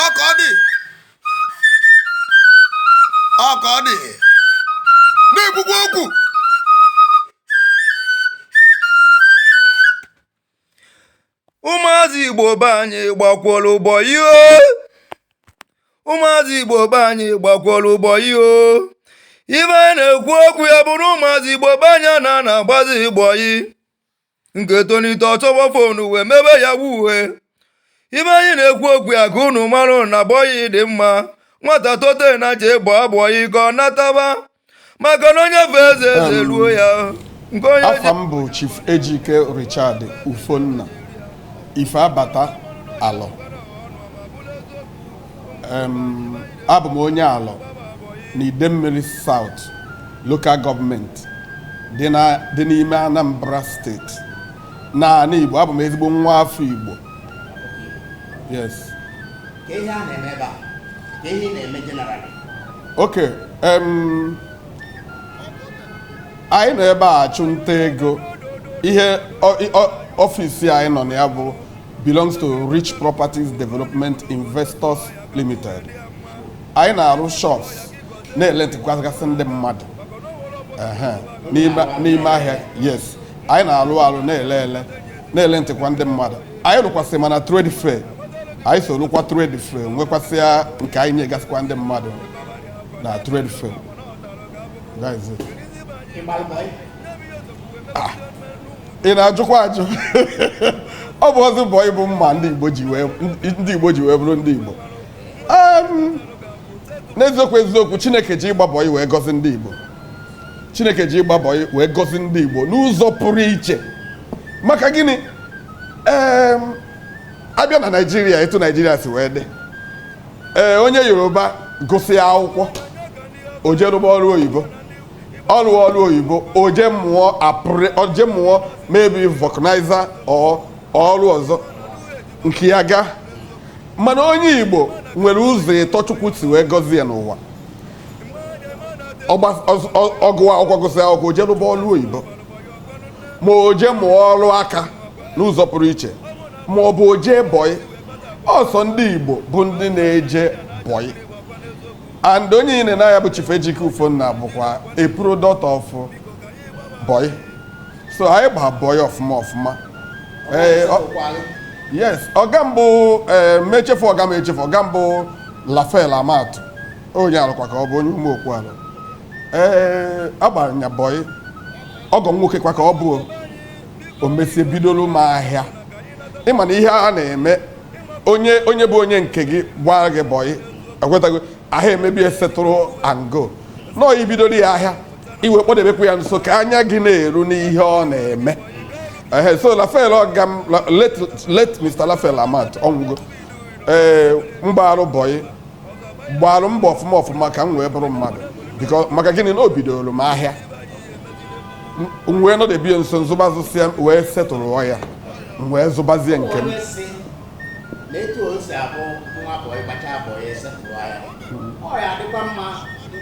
ọka ọ dị ọka ọ dị na-ekwukwa okwu ụmụazị igbo be anyị gbakwọrọ bọyị o ụmụazị igbo be anyị gbakwọrọ bọyị o ife anyị na-ekwu okwu ya bụrụ ụmụazị igbo be anyị na na-agbazi bọyị nke tolite ọ chọwa fonu wee mebe yahoo ife anyị na-ekwu okwu ya ka unu mara na bọyị dị mma nwata tote nya jebe bọyị ka ọ nataba maka na onye fee eze eze eruo ya nke onye ji afa m bụ chief ejike richard ufonna ife abata alọ abụ m onye alọ na Idemmiri South Local Government dị n'ime Anambra steeti n'anị Igbo abụ m ezigbo nwa afọ Igbo yes ok anyị nọ ebe a achụ nta ego ihe ọfịs anyị nọ na ya bụ belongs to Rich Properties Development Investors Limited anyị na-arụ shops na-elentịkwagasị ndị mmadụ ehe, n'ime n'ime ahịa yes anyị na-arụ arụ na-ele ele na-elentịkwa ndị mmadụ anyị rụkwasị ma na trade fair anyị so rụkwa trade fair nwekwasịa nke anyị nyegasịkwa ndị mmadụ na trade fair That is it. Ah, ị na-ajụkwa ajụ ọ bụ ọzọ bọyị bụ mma ndị Igbo ji wee ndị Igbo ji wee bụrụ ndị Igbo Em, n'eziokwu eziokwu Chineke ji ịgba bọyị wee gọzi ndị Igbo Chineke ji ịgba bọyị wee gọzi ndị Igbo n'ụzọ pụrụ iche maka gịnị Em, a bịa na Naịjirịa etu Naịjirịa si wee dị ee onye Yoruba gụsịa akwụkwọ o jee rụba ọrụ oyibo ọrụ ọrụ oyibo o je mụọ apụrụ o je mụọ maybe vulcanizer ọ ọrụ ọzọ nke ya ga mana onye igbo nwere ụzọ ịtọ chukwu si wee gọzie ya n'ụwa Ọgba- ọz- ọ- ọ gụa akwụkwọ gụsị akwụkwọ o je rụba ọrụ oyibo ma o je mụọ ọrụ aka n'ụzọ pụrụ iche ma ọ bụ o je bọyị ọ sọ ndị igbo bụ ndị na-eje bọyị and onye ị na-ene anya bụ Chief Ejike Ufonna bụkwa a product of boy so anyị gba boy ọfụma ọfụma ee yes ọga m bụ ee m echefu ọga m echefu ọga m bụ Raphael Amatu onye Alọ kwa ka ọ bụ onye Umuokwu Alọ ee agbara nya boy ọgọ m nwoke kwa ka ọ bụ o mesịa bidoro m ahịa ị ma na ihe a na-eme onye onye bụ onye nke gị gbara gị bọyị ekwetago ahụ emebi esetụrụ angle na i bidoro ya ahịa i wee kpọdebekwa ya nso ka anya gị na-eru n'ihe ọ na-eme ehe so raphael ọga m la- late late mr raphael amat ọ nwụgo ee m gbaarụ bọyị gbaarụ mbọ ọfụma ọfụma ka m wee bụrụ mmadụ biko maka gịnị na o bidoro m ahịa m wee nọdebe ya nso m zụba zụsịa m wee setụrụ ya m wee zụbazie nke m ọ ya-adịkwa mma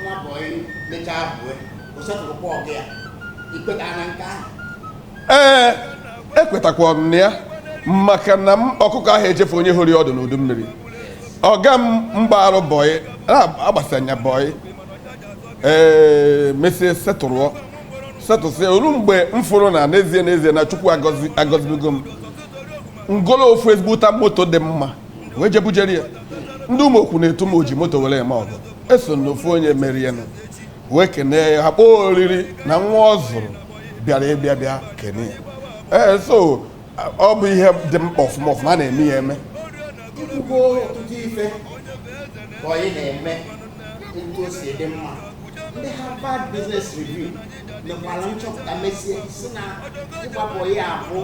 nwa bọyị mechaa bue o setụrụkwa ọga ya i kweta na nke ahụ ee ekwetakwa m na ya maka na ọkụkọ aha echefu onye horo ya ọdụ n'udu mmiri ọga m m gbarụ bọyị agbasịa ya bọyị ee eh, mesie setụrụ setụsịa o ru mgbe m fụrụ na n'ezie n'ezie na chukwu agọzibego m m golo ofu ezigbo moto dị mma wee je bujere ya ndị ụmụokwu na-etu m oji moto were eme ọgọ o so na ofu onye merie nụ wee kenee ya ha kpọọ oriri na nwa ọ zụrụ bịara abịa bịa kene ya ee eh, so ọ bụ ihe dị mkpa ọfụma ọfụma a na-eme ya eme i kwugo ọtụtụ ife bọyị na-eme etu o si dị mma ndị Harvard Business Review mekwara nchọpụta mesie si na ịgba bọyị a bụ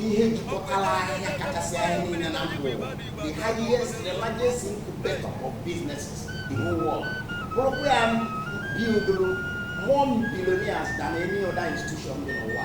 ihe jikọtara ahịa kachasị ahịa niile na mba ụwa the highest the largest incubator of businesses in the whole world bụrụkwa ya buildụrụ more billionaires than any other institution dị n'ụwa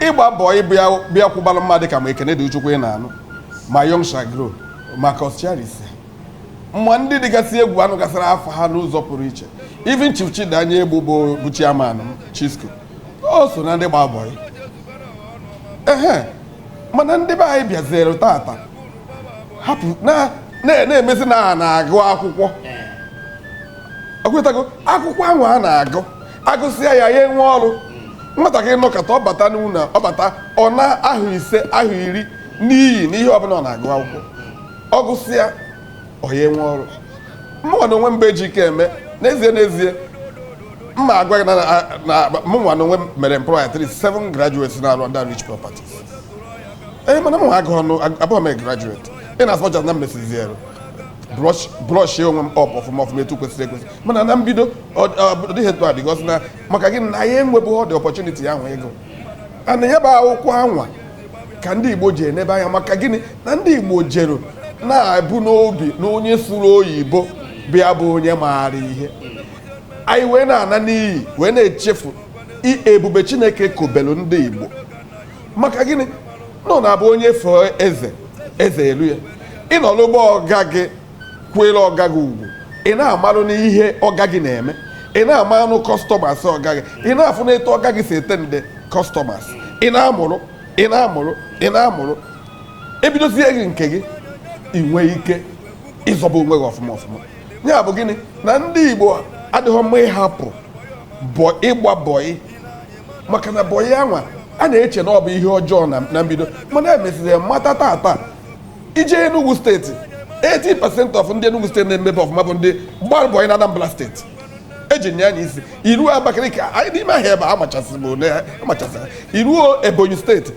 ịgba bọị bịa bịa kwụbara mmadụ ka ma ekene dili chukwu ị na-anụ ma young shall grow ma coscharis ma ndị dịgasị egwu a nụgasịrị afa ha n'ụzọ pụrụ iche even chief chidi anyaegbu bụ bụ chairman chisco o so na ndị gba bọị ehe mana ndị be anyị bịazere tata hapụ na na- na-emezi na ha na-agụ akwụkwọ ekwetago akwụkwọ ahụ a na-agụ agụsịa ya ya enwe ọrụ nwatakịrị nọkata ọ bata n'ụlọ ọ bata ọ naa ahọ ise ahọ iri n'iyi n'ihe ọbụla ọ na-agụ akwụkwọ ọ gụsịa ọ ya enwe ọrụ mụnwa na onwe m bụ ejikeme n'ezie n'ezie m ma-agwa gị na na- na mụnwa na onwe m mere employ at least seven graduates na-arụ under rich properties ee mana mụnwa agụhọ nụ ag- abụhọ m a graduate in as much as na m mesiziri brush brush onwe m up ọfụma ọfụma etu kwesịrị ekwesị mana na mbido ọ dịghị etu a because na maka gịnị na anyị enwebeghị ụdị ọpọchuniti ahụ ịgụ ana ya bụ akwụkwọ anwa ka ndị Igbo ji enebe anya maka gịnị na ndị Igbo jere na-ebu n'obi na onye sụrụ oyibo bịa bụ onye maara ihe anyị wee na-ana n'iyi wee na-echefu ebube Chineke kobelu ndị Igbo maka gịnị na ọ na-abụ onye fee eze eze elu ya ị nọlụ be ọga gị kwere ọga gị ugwu ị na-amalụnụ ihe ọga gị na-eme ị na-amalụnụ kọstọmas ọga gị ị na-afụnụ etu ọga gị si attend kọstọmas ị na-amụrụ ị na-amụrụ ị na-amụrụ ebidozie gị nke gị ị nwee ike ịzọba onwe gị ọfụma ọfụma ya bụ gịnị na ndị Igbo adịghị mma ịhapụ bọ ịgba bọyị maka na bọyị anwa a na-eche na ọ bụ ihe ọjọọ na mbido mana e mesịrị mata tata i jee Enugu steeti 80% of ndị Enugu steeti na-emebe ọfụma bụ ndị gbara bọyị na Anambra steeti eji nya anya isi i ruo Abakaliki anyị n'ime ahịa ebe amachasị m ole amachasị i ruo Ebonyi steeti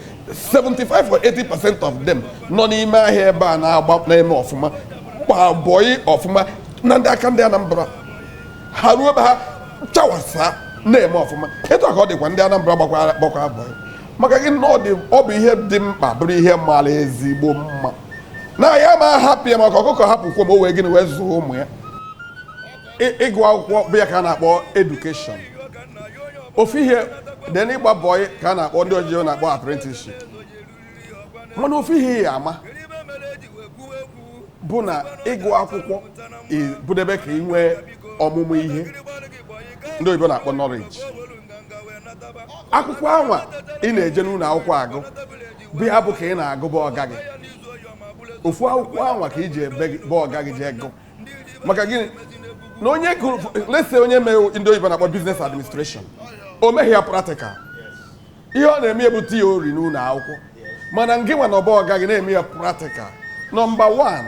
75 or 80 percent of them nọ n'ime ahịa ebe a na-agba na-eme ọfụma gba bọyị ọfụma na ndị aka ndị Anambra ha ruo be ha chawasa na-eme ọfụma etu a ka ọ dịkwa ndị Anambra gbakwara bọyị maka gịnị na ọ bụ ihe dị mkpa bụrụ ihe mara ezigbo mma na anyị ama hapụ ya maka ọkụkọ hapụ kwọm o wee gịnị wee zụọ ụmụ ya ịgụ akwụkwọ bụ ya ka a na-akpọ edukeshọn ofu ihe then ịgba bọyị ka a na-akpọ ndị oyibo na-akpọ apprenticeship mana ofu ihe ị ya ama bụ na ịgụ akwụkwọ bụdebe ka ị nwee ọmụmụ ihe ndị oyibo na-akpọ nọleji akwụkwọ anwa ị na-eje n'ụlọ akwụkwọ agụ bụ ya bụ ka ị na-agụ be ọga gị ofu akwụkwọ anwa ka i jebe be ọga gị jee gụ maka gịnị na onye gụrụ let's say onye mee ndị oyibo na-akpọ business administration o meghị ya practical ihe ọ na-eme bụ theory n'ụlọ akwụkwọ mana ngị nwa nọ be ọga gị na-eme ya practical nọmba 1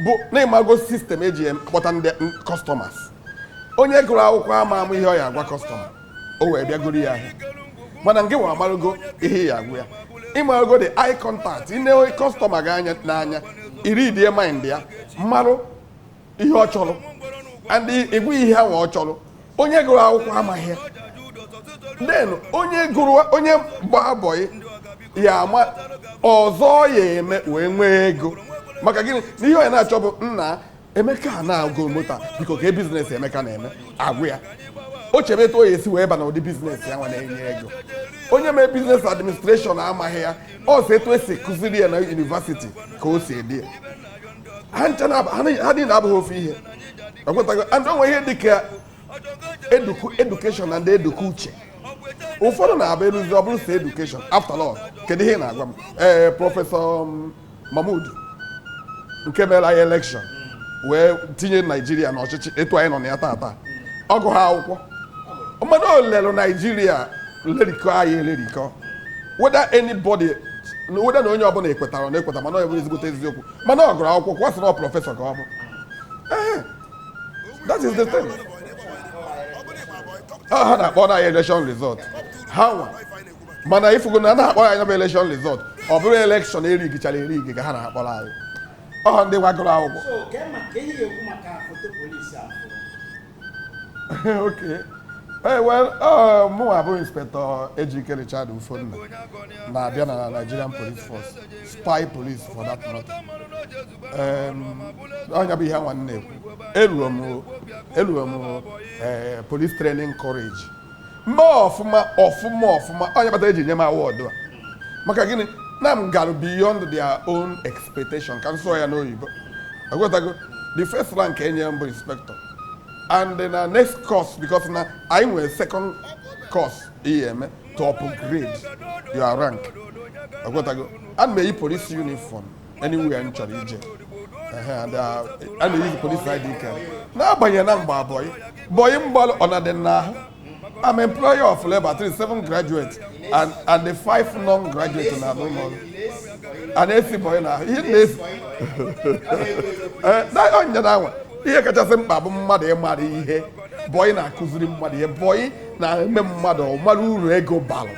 bụ na ị mago sistem eji akpọta ndị kọstọmas onye gụrụ akwụkwọ ama ama ihe ọ ya agwa kọstọma o wee bịa goro ya ahịa mana ngị nwa amarugo ihe ị ya agwa ya ị marugo the eye contact i nee kọstọma gị anya n'anya i readie mind ya marụ ihe ọ chọrọ and ị gwa ya ihe ahụ ọ chọrọ onye gụrụ akwụkwọ amaghị ya then onye gụrụ onye gba bọyị ya ama ụzọ ọ ya eme wee nwee ego maka gịnị na ihe onye na-achọ bụ nna emeka a na-agụ moto a, biko kee bizinesi emeka na-eme a gwa ya o chebe etu ọ ya-esi wee ba na ụdị bizinesi ya nwa na-enye ego onye mee biznes administreshọn amaghị ya ọ sị etu esi kụziri ya na yunivasiti ka o si adị ya ha ncha na- ha ni- ha niile abụghị ofu ihe ị ghọtago and o nwee ihe dịka eduku edukeshọn and eduku uche ụfọdụ na-abụ eruzi ọ bụrụ sọ edukeshọn after all kedu ihe ị na-agwa m ee prọfesọ m, Mahmoud nke mere anyị elekshọn wee tinye naijiria n'ọchịchị etu anyị nọ na ya tata ọ gụghị akwụkwọ mmadụ o lelụ naijiria lerikọ anyị elerikọ whether anybody whether na onye ọbụla ekwetara na ekweta mana ọ bụ ezigbote eziokwu mana ọ gụrụ akwụkwọ kwa sị na ọ prọfesọ ka ọ bụ Ehe. that is the thing Ọ ha na-akpọrọ anyị election result ha nwa mana ị fụgo na a na-akpọrọ anyị ya bụ elekshọn rizọt ọ bụrụ elekshọn erigichara erigi ka ha na-akpọrọ anyị ọ ha ndị gụgoro akwụkwọ okay ee well mụnwa bụ inspektọ Ejike Richard Ufonna na-abịa na Nigerian Police Force spy police for that matter ọ nya bụ ihe nwa m na-ekwu eruo m eh, police training college mee ọfụma ọfụma ọfụma ọ nya kpata e ji nye m awọdụ a maka gịnị na m gara beyond their own expectation ka m sụọ ya n'oyibo ị ghọtago the first rank enyere m bụ inspector and then next course because na anyị nwere second course ị ya-eme to upgrade your rank ị ghọtago ana m eyi police uniform anywhere m chọrọ ije Ehe, and, uh, a na-eyizi polis ID card n'agbanyeghị na m gbara bọyị bọyị m gbalụ ọ na-adị m n'ahụ I'm employer of labor thirty seven graduates and, and the five non-graduates na-arụrụ m ọrụ. a na-esi bọyị n'ahụ ihe na-esi Ee, na onye na anwa ihe kachasị mkpa bụ mmadụ ịmara ihe bọyị na-akụziri mmadụ ihe bọyị na-eme mmadụ ọ mara uru ego balụ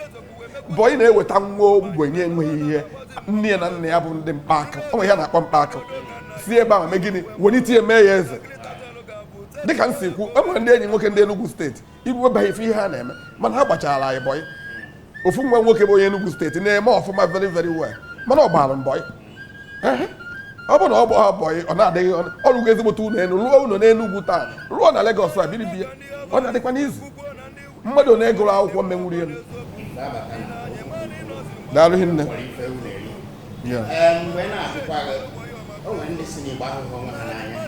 bọyị na-eweta nwa ogbenye enweghị ihe nne ya na nna ya bụ ndị mkpaakụ ọ bụ ihe a na-akpọ mkpaakụ si ebe ahụ mee gịnị welite ya mee ya eze dịka m si kwu e nwere ndị enyi m nwoke ndị Enugu steeti i rue be ha ị fụ ihe ha na-eme mana ha gbachara anyị bọyị ofu nwa nwoke bụ onye Enugu steeti na-eme ọfụma very very well mana ọ gbara m bọyị ọ bụ na ọ bụghị bọyị ọ na-adịghị ọ rụgo ezigbote ụlọ elu rụọ ụlọ n'Enugu taa rụọ na Legọs a biri be ya ọ na-adịkwa n'izu mmadụ na-agụrọ akwụkwọ menwuru elu daalụ hinne Ya. Ee, mgbe na-asịkwa gị, o nwere ndị sị na Igbo ahụghị onwe ha n'anya.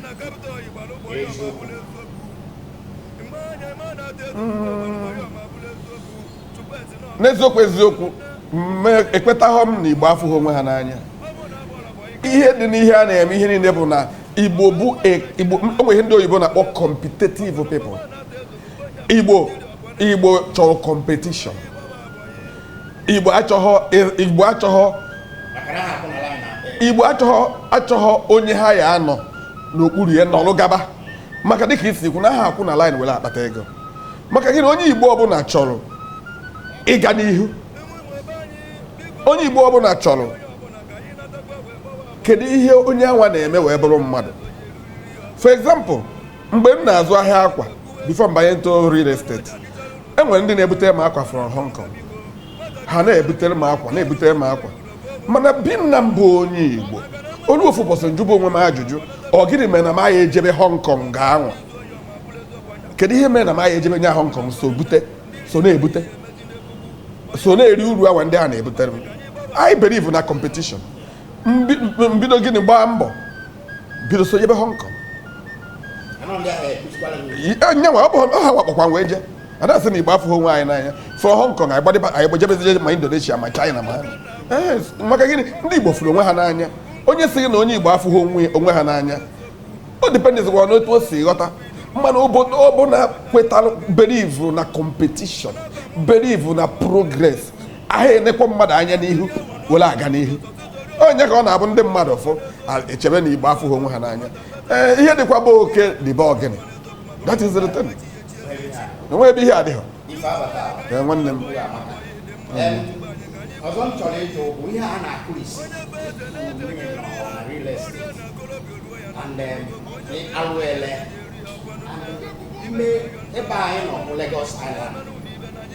Eziokwu. n'eziokwu eziokwu mme ekwetaghọ m na igbo afụghị onwe ha n'anya ihe dị n'ihe a na-eme ihe niile bụ na igbo bụ a- igbo o nwere ihe ndị oyibo na-akpọ competitive people igbo igbo chọrọ competition igbo achọghọ igbo achọghọ igbo achọghọ achọghọ onye ha ya anọ n'okpuru ya nọrụ gaba maka dịka i si kwu na ha akwụ na line were akpata ego maka gịnị onye igbo ọbụla chọrọ ịga n'ihu onye igbo ọbụla chọrọ kedu ihe onye anwa na-eme wee bụrụ mmadụ for example mgbe m na-azụ ahịa akwa before m banye into real estate e nwere ndị na-ebutere m akwa from Hong Kong ha na-ebutere m akwa na-ebutere m akwa mana being na m bụ onye Igbo o lu ofu ụbọchị m jụba onwe m ajụjụ ọ gịnị mere na m agha ejebe Hong Kong anwa kedu ihe mere na m agha ejebe nya Hong Kong so bute so na-ebute so na-eri uru anwa ndị a na-ebutere m I believe na competition m bido gịnị gbaa mbọ bido so jebe Hong Kong nyanwa ọ bụ ha wa kpọkwa m wee jee a da asị na igbo afụghị onwe anyị n'anya from Hong Kong anyị gbadịba anyị gbajebezie ma Indonesia ma China ma maka gịnị ndị igbo fụrụ onwe ha n'anya onye sị na onye igbo afụghị onwe ha n'anya ọ dependizikwa n'otu o si ghọta mana obodo ọbụna kwetara believe na competition believe na progress aha enekwa mmadụ anya n'ihu were aga n'ihu ọ nya ka ọ na-abụ ndị mmadụ ụfọ echebe na igbo afụghị onwe ha n'anya ee ihe dịkwa be oke dị be ọgịnị that is the thing enwe ebe ihe adịghị ee nwanne m ọzọ m chọrọ ịjụ bụ ihe a na-akụrisi alụele ebe anyị nọ bụ Lagos Island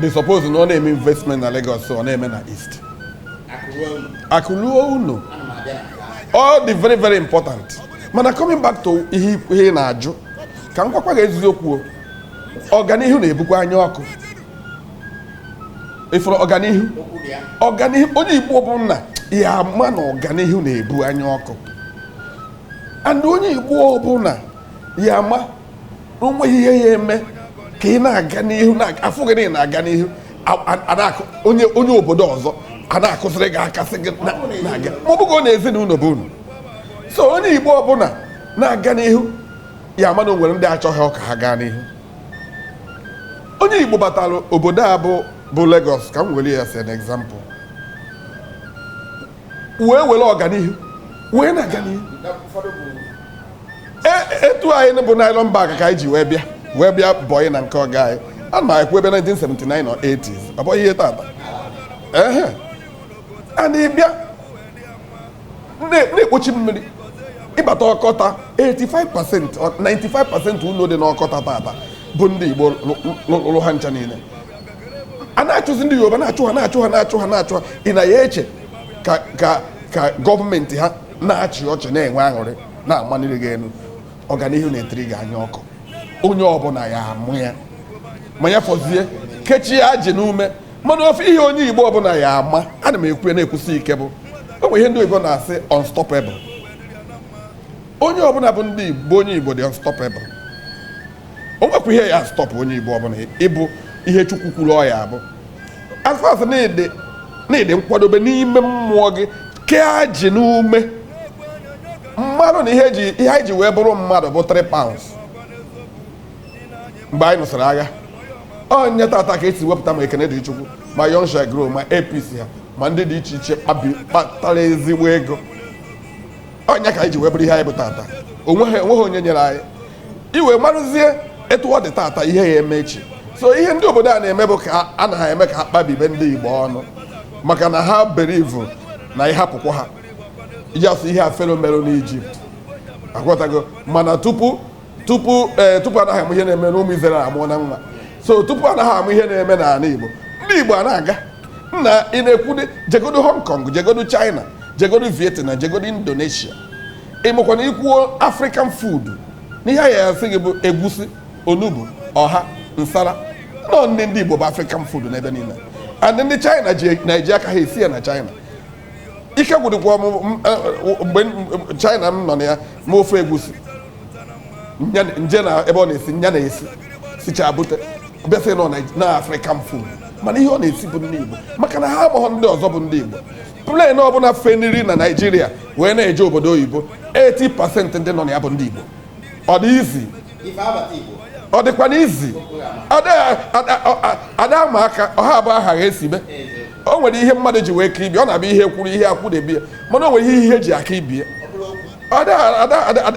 they suppose na ọ na-eme investment na Lagos ọ na-eme na East akụ luo ụnọ ọ dị very very important mana coming back to ihe ị na-ajụ ka m gwakwa gị eziokwu ọganihu na-ebukwa anya ọkụ ị fụrụ ọganihu ọganihu onye Igbo ọbụna ya ama na ọganihu na-ebu anya ọkụ and onye Igbo ọbụna ya ama o nweghị ihe ya eme ka ị na-aga n'ihu afụ gị na ị na-aga n'ihu onye obodo ọzọ a na-akụziri gị aka sị gị na-aga ma ọ bụghọ na ezinụlọ bụ unu so onye igbo ọbụla na-aga n'ihu ya ama na o nwere ndị achọghọ ka ha gaa n'ihu onye igbo batara obodo a bụ bụ Lagos ka m were ya as an example wee were ọganihu wee na-aga n'ihu e, etu anyị bu nylon bag ka anyị ji wee bịa wee bịa bọyị na nke ọga anyị a na-ekwu ebe 1979 or 80s ọ bụghị ihe tata ehe anyị bịa na-ekpochi mmiri ịbata Okota 85% 95% ụlọ dị n'Okota tata bụ ndị Igbo rụrụ ha ncha niile a na-achụzi ndị yoruba na-achụ ha na-achụ ha na-achụ ha na-achụ ha ị na ya eche ka ka ka gọọmenti ha na-achị ọchị na-enwe aṅụrị na-amaniri gị elu ọganihu na-etiri gị anya ọkụ onye ọbụla ya amụ ya ma ya fọzie kechie ajị n'ume mana ofu ihe onye igbo ọbụla ya ama ana m ekwu ya na-ekwusi ike bụ o nwere ihe ndị oyibo na-asị unstoppable onye ọbụla bụ ndị igbo onye igbo dị unstoppable o nwekwa ihe ya stop onye igbo ọbụla ịbụ ihe chukwu kwuru ọ ya abụ as far as na ị dị na ị dị nkwadobe n'ime mmụọ gị kee ajị n'ume marụ na ihe ji ihe anyị ji wee bụrụ mmadụ bụ 3 pounds mgbe anyị nụsịrị agha ọ nya tata ka e si wepụta ma ekene dị chukwu ma Young Shall Grow ma ABC ha ma ndị dị iche iche kpabi kpatara ezigbo ego ọ nya ka anyị ji wee bụrụ ihe anyị bụ tata onweghị onweghị onye nyere anyị i wee marụzie etu ọ dị tata ihe ya eme echi so ihe ndị obodo a na-eme bụ ka a na ha eme ka ha kpabibe ndị Igbo ọnụ maka na ha believe na ịhapụkwa ha iji asụ ihe a Fero merụ n'Ijipt ị ghọtago mana tupu tupu ee eh, tupu anaghị ama ihe na-eme n'ụmụ Izrel amụọna nwa so tupu anaghị ama ihe na-eme n'ala Igbo ndị Igbo a na-aga nna ị na-ekwude jegodo Hong Kong jegodo China jegodo Vietnam jegodo Indonesia ị makwa na i kwuo african food na ihe a ya asị gị bụ egusi onugbu ọha nsala nọ nri ndị igbo bụ african food n'ebe niile and ndị china ji na-eji aka ha esi ya na china ike gwụdịkwa m m- eh, mgbe m- china m nọ na ya ma ofe egusi nya- nje na ebe ọ na-esi nya na-esi sicha bute bịa sị nọ na- na african food mana ihe ọ na-esi bụ nri igbo maka na ha amaghọ ndị ọzọ bụ ndị igbo plane ọbụla feniri na naijiria wee na-eje obodo oyibo 80% ndị nọ na ya bụ ndị igbo ọ dị easy ọ dịkwa na easy ada ama aka ọha abụọ aha ha esi mee o nwere ihe mmadụ ji wee ka ibe ya ọ na-abụ ihe kwụrụ ihe akwụdebe ya mana o nwere ihe ihe ji aka ibe ya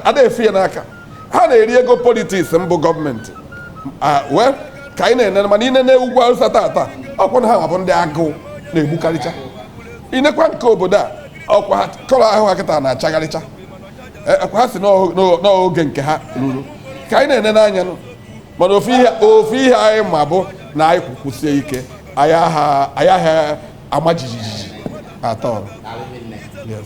ada efe ya n'aka ha na-eri ego politiks mbụ gọọmenti wee ka anyị na-ene mana ị nee n'ugwu awụsa tata ọkwa na ha nwa bụ ndị agụụ na-egbukarịcha ị nekwaa nke obodo a ọkwa ha kọrọ ahụ ha kịta na-achagharịcha ọkwa ha sị na oge nke ha ruru ka anyị na-ene n'anya nụ mana ofu ihe ofu ihe anyị ma bụ na anyị kwụ kwụsie ike anyị aha anyị aha ama jijiji at all Yes.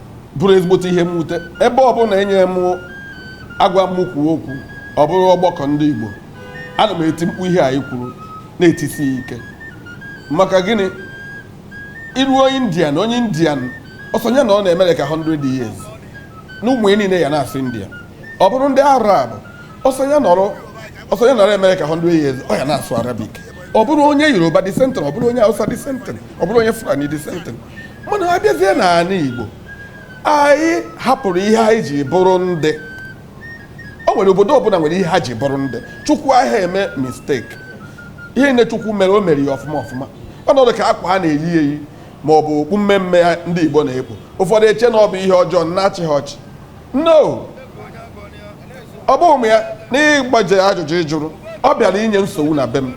bụrụ ezigbote ihe mwute ebe ọbụla enye m a gwa m kwuo okwu ọ bụrụ ọgbakọ ndị Igbo ana m eti mkpu ihe anyị kwuru na-etisi ya ike maka gịnị iru onye indian onye indian ọ sọ nya nọrọ na amerịka 100 years na ụmụ ya niile ya na-asụ india ọ bụrụ ndị arab ọ sọ nya nọrọ ọ sọ nya nọrọ amerịka 100 years ọ ya na-asụ arabic ọ bụrụ onye yoruba the same thing ọ bụrụ onye hausa the same thing ọ bụrụ onye fulani the same thing mana a bịazie n'ala Igbo anyị hapụrụ ihe anyị ji bụrụ ndị o nwere obodo ọbụla nwere ihe ha ji bụrụ ndị chukwu aha eme mistake ihe niile chukwu mere o mere ya ọfụma ọfụma ọnọdụ ka akwa a na-eyi eyi ma ọ bụ okpu mmee mmee ndị Igbo na-ekpu ụfọdụ eche na ọ bụ ihe ọjọọ na-achị ha ọchị no ọ bụ ụmụ ya n'ịgbaje ajụjụ ị jụrụ ọ bịara inye nsogbu na be m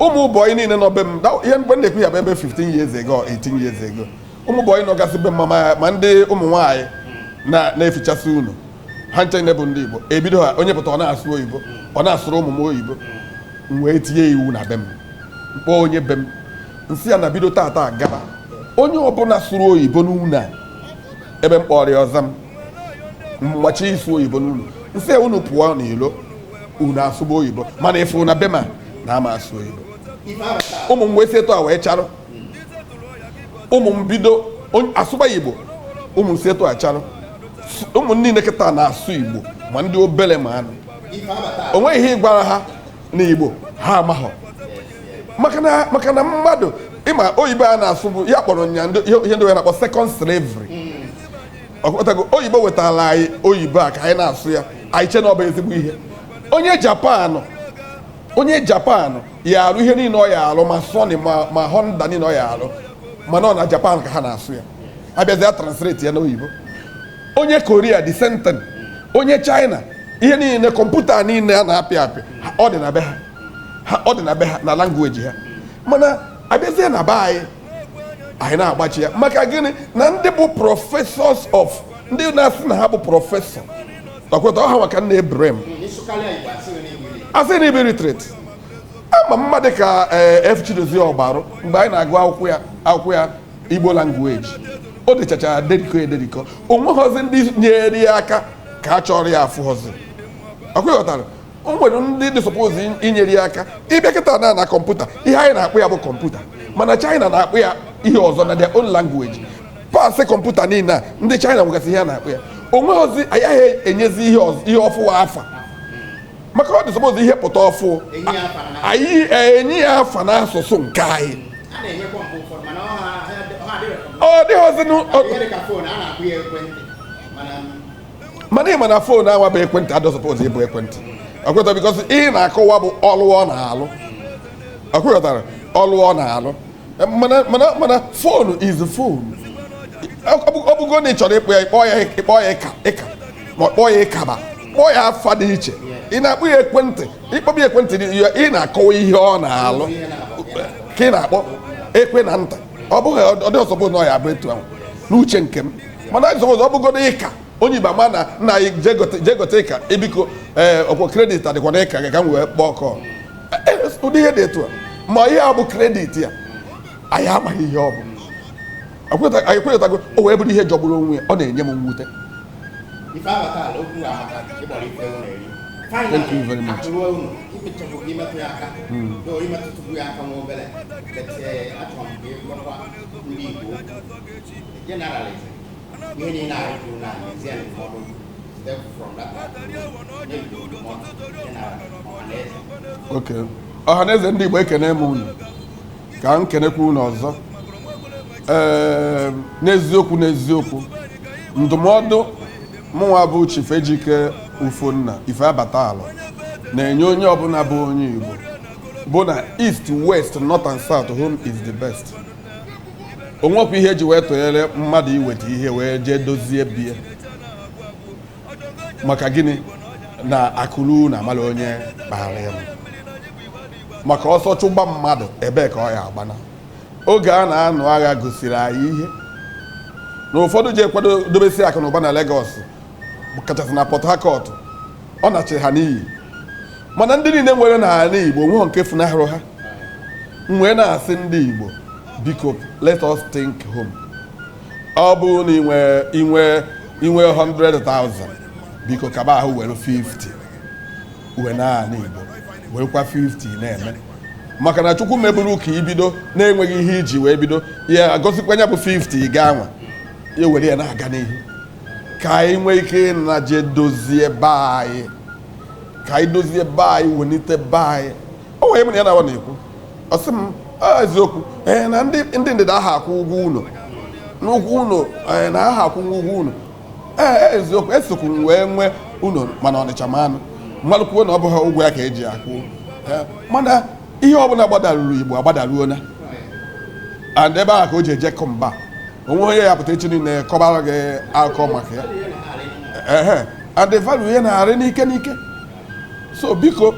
ụmụ bọyị niile nọ be m ihe mgbe na-ekwu ya bụ ebe 15 years ago 18 years ago ụmụ bọyị nọgasị be m ma ndị ụmụ nwaanyị na-efichasị ụnọ ha ncha niile bụ ndị Igbo ebido ha onye pụta ọ na-asụ oyibo ọ na-asụrụ ụmụ m oyibo m wee tinye iwu na be m m kpọọ onye be m m sị ya na bido tata gaba onye ọbụla sụrụ oyibo n'ụlọ a ebe m kpọrọ ya ọza m gbachi ịsụ oyibo n'ụlọ m sị unu pụọ n'ilo unu asụba oyibo mana ị fụ na be m a na ama asụ oyibo ụmụ m wee si etu a wee charụ ụmụ m bido asụba igbo ụmụ m si etu a charụ ụmụ niile kịta na-asụ igbo ma ndị obere m anụ o nweghị ihe ị gwara ha n'igbo ha amaghọ maka na maka na mmadụ ịma oyibo a na-asụ bụ ya kpọrọ nya ndị- ihe ihe ndị wee na-akpọ second slavery ọ kpọtago oyibo wetara anyị oyibo a ka anyị na-asụ ya anyị che na ọ bụ ezigbo ihe onye japan onye japan ya arụ ihe niile ọ ya arụ ma sony ma ma honda niile ọ ya arụ mana ọ na japan ka ha na-asụ ya a bịazi a translate ya n'oyibo onye korea the same thing onye china ihe niile kọmputa niile a na-apị apị ọ dị na be ha ha ọ dị na be ha na language ha mana abịazie na be anyị anyị na-agbachi ya maka gịnị na ndị bụ professors of ndị na-asị na ha bụ professor ọkwa ịghọta ha maka nna ebrem asị na Igbo literature ama mmadụ ka eh, F. Chidozie Ogbalu mgbe anyị na-agụ akwụkwọ ya akwụkwọ ya Igbo language o dechachara deriko ederiko o nweghọzi ndị nyere ya aka ka a chọrọ ya afụghọzi ọkwa ịghọtara o nwere ndị dị suppose inyere ya aka ịbịa kịta na na kọmputa ihe anyị na-akpọ ya bụ kọmputa mana China na-akpọ ya ihe ọzọ na their own language parts kọmputa niile a ndị China nwegasị ihe a na-akpọ ya o nweghọzi agaghị enyezi ihe ọz- ihe ọfụwa afa maka ọ dị suppose ihe pụta ọfụ anyị enye ya afa n'asụsụ nke anyị ọ dịghịzinụ mana ị ma na phone anwa bụ ekwentị adịghọ suppose ịbụ ekwentị ọkwa ịghọtara because ihe na-akọwa bụ ọlụ ọ na-alụ ọkwa ịghọtara ọlụ ọ na-alụ mana mana mana phone is phone ọ bụgo na ị chọrọ ịkpọ ya ịkpọ ya ịkpọ ya ịka ịka ma kpọọ ya ịkaba kpọọ ya afa dị iche ị na-akpọ ya ekwentị ịkpọba ya ekwentị ị na-akọwa ihe ọ na-alụ ka ị na-akpọ ekwe na nta ọ bụghị ọ dịghọ suppose na ọ ya-abụ etu ahụ n'uche nke m mana anyị zọgọzọ ọ bụgodu ịka onye igbo ama na nna anyị jee gote ịka e biko ee ọkwa credit adịkwa na ịka gị ka m wee kpọọ call e, e, ụdị ihe dị etu a ma ihe a bụ credit ya anyị amaghị ihe ọ bụ anyị kwenyetago o wee bụrụ ihe jọgburu onwe ya ọ na-enye m mwute Thank you very much. Hmm. Generalism, ihe niile anyị kwuru na ezie ndụmọdụ step from that Okay. ọhaneze ndị Igbo ekene m unu ka m kenekwa unu ọzọ ee n'eziokwu n'eziokwu ndụmọdụ mụnwa bụ Chief Ejike Ufonna Ifeabata Alor na-enye onye ọbụla bụ onye Igbo bu na East West North and South home is the best o nwekwa ihe e ji wee tụnyere mmadụ iweta ihe wee jee dozie be ya maka gịnị na akụ luo ụnọ amala onye kpara ya maka ọsọ chụgba mmadụ ebee ka ọ ya agbana oge a na-anụ agha gosiri anyị ihe na ụfọdụ ji ekwado dobesi akụ na ụba na Lagos kachasị na Port Harcourt ọ nachiri ha n'iyi mana ndị niile nwere n'anị Igbo nweghị nke funahụrụ ha m wee na-asị ndị Igbo biko let us think home ọ bụrụ na i nwe i nwe i nwe 100,000 biko kaba ahụ were 50 wenaa anị Igbo werekwa 50 na-eme maka na Chukwu meburu ka i bido na-enweghị ihe i ji wee bido ya agọzikwa ya bụ 50 gaa nwa ya were ya na-aga n'ihu ka anyị nwee ike ịnaje dozie be anyị ka anyị dozie be anyị welite be anyị o nwere mụ na ya na-awa na-ekwu ọ sị m "Ah, eziokwu ee na ndị ndị ndịda aha akwụ ụgwọ ụlọ n'ụgwọ ụlọ ee na aha akwụ ụgwọ ụlọ ee eziokwu esokwu m wee nwee ụlọ mana ọnịcha mana m malụkwuo na ọ bụghị ụgwọ ya ka e ji akwụ Ee, mana ihe ọbụla gbadaruru igbo agbadaruona and ebe ahụ ka o ji ejekọ mba o nwehe onye ya-apụta echi niile kọbara gị akụkọ maka ya ehe and the value ya na-arị n'ike n'ike so biko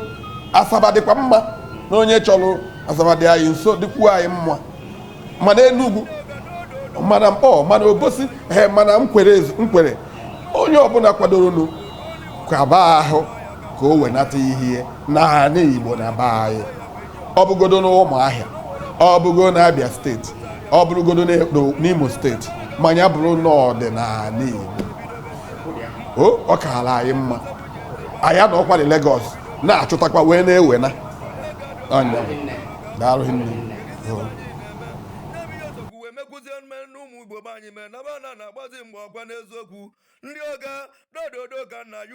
asaba dịkwa mma na onye chọrọ asaba dị anyị nso dịkwuo anyị mma mana enugwu mana nkpọ mana obosi ee mana nkwere nkwere onye ọbụla kwadoronu kaba ahụ ka o wenata ihe n'anị igbo na be anyị ọ bụgodo n'ụmụahịa ọ bụgodo na abịa steeti ọ bụrụgodo n'imo steeti ma nya bụrụ na ọ dị n'anị igbo ọ kaara anyị mma anyị anọkwalị Lagos na-achụtakwa wee na-ewena ọ nya daalụ nne igbo be anyị mee na bana na-agbazi mgbe ọkwa n'eziokwu ndị ọga dododo ka nna ya